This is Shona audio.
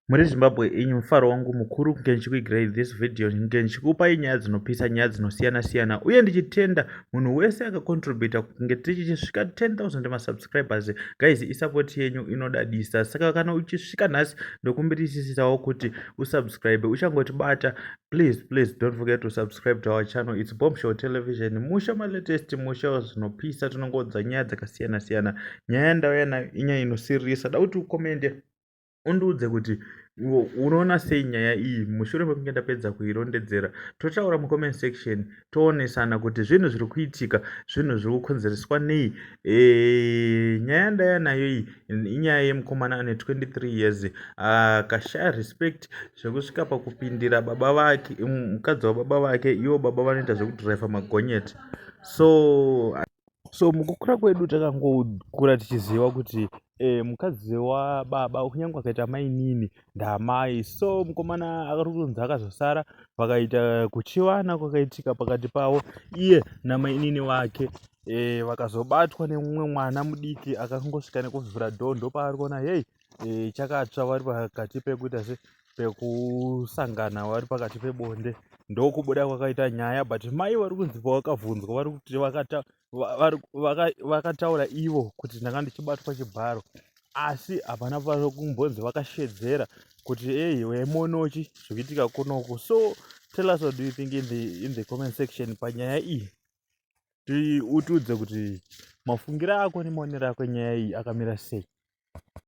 Muri Zimbabwe inyu mufaro wangu mukuru kunge ndichikuigirai this video kunge ndichikupai nyaya dzinopisa nyaya dzinosiyana siyana uye ndichitenda munhu wese akacontributa kunge tichisvika 10000 masubscribers guys isapoti yenyu inodadisa saka kana uchisvika nhasi ndokumbirisisisawo kuti usubscribe uchangotibata please please don't forget to subscribe to our channel its bombshell television musha malatest musha zvinopisa tinongoudza nyaya dzakasiyana siyana nyaya ndauya nayo inyaya inosirisa da kuti ukomende undiudze kuti unoona sei nyaya iyi mushure mekunge ndapedza kuirondedzera totaura mucomment section toonesana kuti zvinhu zviri kuitika zvinhu zviri kukonzereswa nei e, nyaya ndaya nayo iyi inyaya yemukomana ane 23 years akashaya respect zvekusvika pakupindira baba vake mukadzi wababa vake ivo baba vanoita zvekudriver magonyeti so so mukukura kwedu takangokura tichiziva kuti e, mukadzi wababa kunyange akaita mainini ndamai so mukomana akari kunzi akazosara vakaita kuchivana kwakaitika pakati pavo iye namainini wake e, vakazobatwa nemumwe mwana mudiki akangosvika nekuvhura dhoo ndopaari kuona hei e, chakatsva vari pakati pekuita se pekusangana vari pakati pebonde ndokubuda kwakaita nyaya but mai vari kunzi vakavhunzwa vari kuti vakataura ivo kuti ndanga ndichibatwa chibharo asi hapana vari kumbonzi vakashedzera kuti ei wemonochi zvikuitika kunoku so tell us what do you think in the, in the comment section panyaya iyi tiutiudze kuti mafungiro ako nemaonero ako nyaya iyi akamira sei